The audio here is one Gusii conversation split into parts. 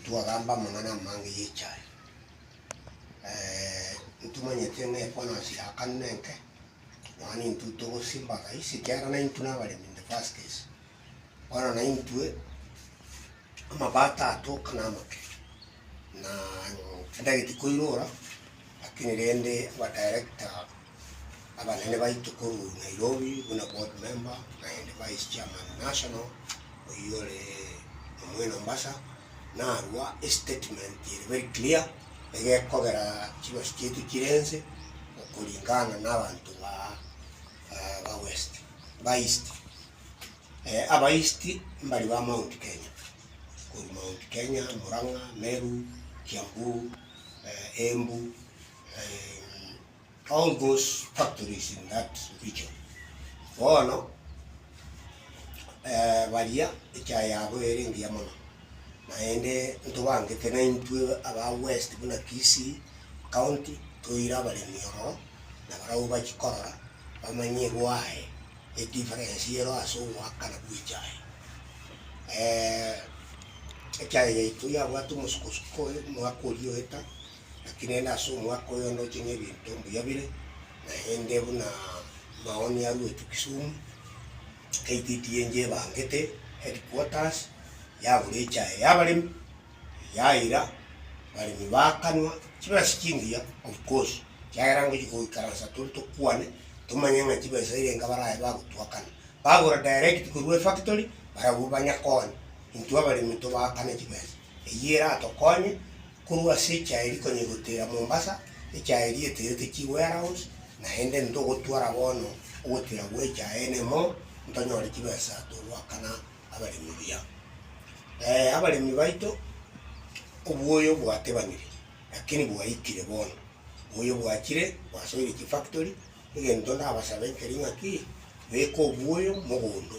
Ntwagamba Omonene amang'ana y'echi aya, ee, ntimanyete ng'a efonosi ya kane nenke, nonya nintwe togosimba rais, ekiagera naintwe nabaremi in the first case, bono naintwe amabato atoka namake, na tindageti koirora, lakini rende abadirector. Abanene baito korwa Nairobi buna board member naende vice chairman national oyio ore omwene Mombasa narwa estatement ere very clear egekogera chibasi chiaito chire nse okoringana na abanto ba ba west ba east eh aba east mbari ba mount Kenya korwa mount Kenya, Murang'a, Meru, Kiambu, eh Embu, eh. All those factories in that region bono baria echae yabo ere engiya mono, naende ntobangete naintwe aba west buna Kisii county toire abaremi ororo, na barabwo bachikorora bamanye gwaye edifference ero ase ogoakana gwechae. Echae yaito yabwate omosukosuko oyo omwaka oria oeta. Lakini ere ase omwaka oyo ndoche nebinto mbuya bire, naende buna maoni aruetwe Kisumu, KTDA enche ebangete headquarters yagora echae y'abaremi, yaira, abaremi bakanwa chibesa chingiya of course, ekiagera ngochia goikaransa tore tokwane, tomanye ng'a chibesa eria enka baraye bagotwakana. Bagora direct korwa efactory, barabwo banye konya intwe abaremi tobakane chibesa. Eyio eratokonye Korwa ase echaeri konya igotera Mombasa, echaeri eterete chi warehouse, naende ntogotwara bono ogotera gwe echaene mo ntonyore chibesa togoakana abaremi buya. Ee, abaremi baito obuoyo bwatebanire, lakini bwaikire bono, obuoyo bwachire bwasoire chifactory, egento ndabasabe nkeri ng'aki, beka obuoyo mogondo.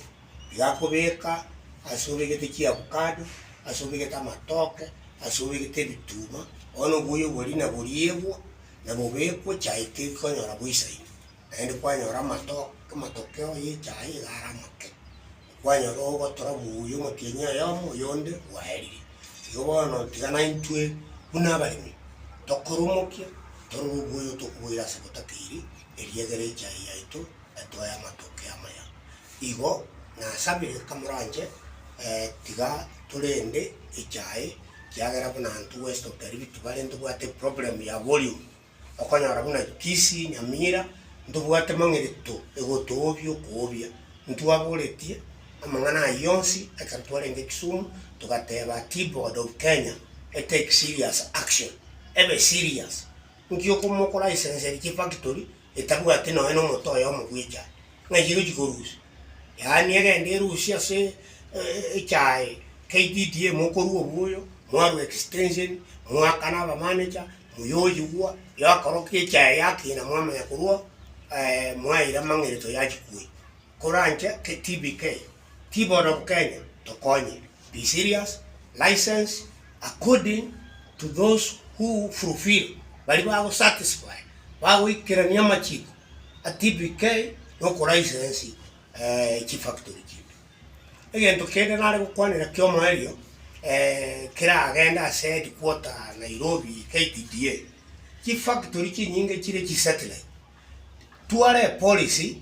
birakobeka ase obegete chiavukado, ase obegete amatoke, ase obegete ebituma, bono oboyo bori naboriegwa, nabobekwe chai tikonyora boisaini, naende kwanyora amato amatokeo ya echai iga are amake, kwanyora ogotora omobuyu omotienyi oyomo oyonde bwaerire. Igo bono tiga naintwe buna abaremi, tokoromokia torore oboyo tokoboira ase botakeiri, erio egere echai yaito. etoe amatoke amaya. Igo nasabire kamoranche, tiga torende echae, kiagera buna intwe West of Karibi tibare ntobwate problem ya volume, okonyora buna Kisii, Nyamira, ntobwate mang'irito egotoobia okoobia. Ntwaboretie amang'ana ayio onsi ekero twarenge Kisumu, togateba ati board of Kenya e take serious action, ebe serious. Nki okomokoraisenseri chifactory etabwati nonya nomote oyomo bw'echae, ng'ai egochia korusia? Yaani egende erusie ase echae KTDA mokorua obuoyo, mwarwa extension, moakana abamanecha, moyoyigwa, yakorokire echae yakina mwamanya korwa mwaira amang'erito yachia koira. Koro anche TBK. Ti bono bo Kenya tokonye be serious license according to those who fulfill baria bago satisfy bagoikerania amachiko a TBK na oko license chi factory chinde. Egento kende nare gokwanera kia omoerio keragende ase headquarter Nairobi KTDA chi factory chinyinge chire chi satellite tware epolisi.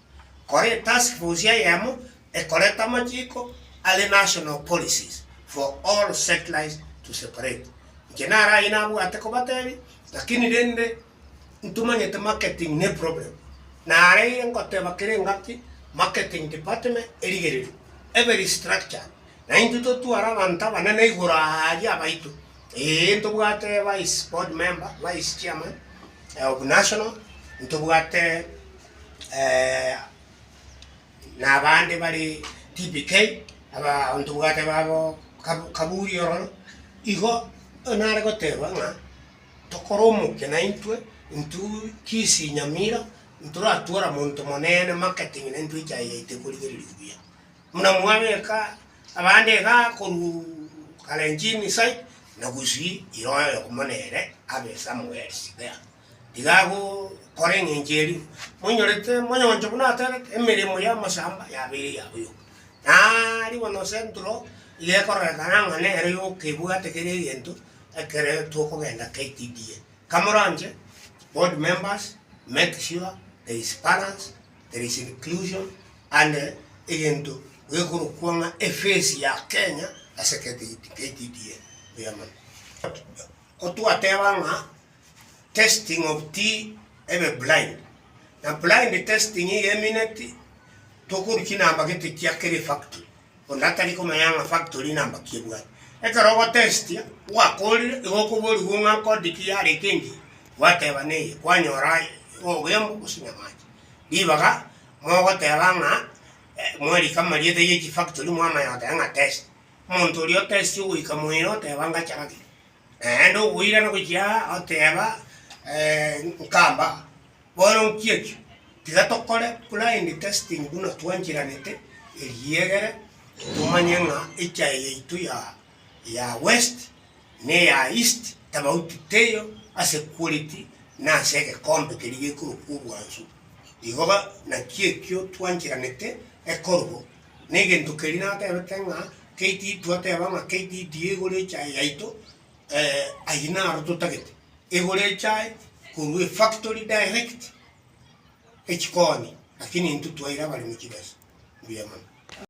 kore etask force eyemo ekorete amachiko are national policies for all setlite to separate. Inche naro ayio nabwate kobatebia lakini rende ntomanyete marketing ne problem. Nare ngoteba kere engaki marketing department erigererio ebe restructured na intwe totware abanto abanene igoro aria abaito ee ntobwate vice board member, vice chairman of national, ntobwate eh, na abande bare TPK, abaanto bwate babo kab- kaburi ororo, igo nare goteeba ng'a tokore omokia naintwe intwe chisinyamira ntoratwora monto monene marketing na intwe echaye yaito ekorigereria buya. Buna mwabeka abande iga korwa Kalenjin side na gusii iroyo mono ere abe somewhere there. Iga agokora engencho eria moinyorete moyonche buna aterete, emeremo y'amashamba yabeire ya boyoka. Na ribono Central iga ekororekana ng'a nero yoka ebwate kera egento ekere tokogenda KTDA. Kamoranche board members make sure there is balance, there is inclusion and egento gekorokwa ng'a efesi ya Kenya ase KTDA buya mono. Kotwateba ng'a. testing of ti ebe blind na blind testing iga emineti tokoru chinamba gete chia kere factory onde atari komanya ng'a factory namba ki ebwate ekero ogotestia gwakorire igo okoborigwe ng'a code ki yarenge engiya gwateba neye kwanyora aye obogembe gose nyamache ribaga mogoteba ng'a mwarika amarieta ya echi factory mwamanya goteba ng'a test omonto oria otesti ogoika moyio oteba ngachara ki Naende ogoirana gochia aa oteeba, Nkamba, bono nki'ekio? Tiga tokore blind testing buna twancheranete, eriegere tomanye ng'a echae yaito ya ya west ne eya east tofauti teiyo ase quality na ase egekombe keria gekorokwa obwansu. Igo naki ekio twancheranete ekorobo negento keria natebete ng'a KT twateba ng'a KTDA igure echae yaito, ayio naro totagete, egore echae korwa efactory direct echi konya, lakini intwe twaira abaremi chibesa. Mbuya mono.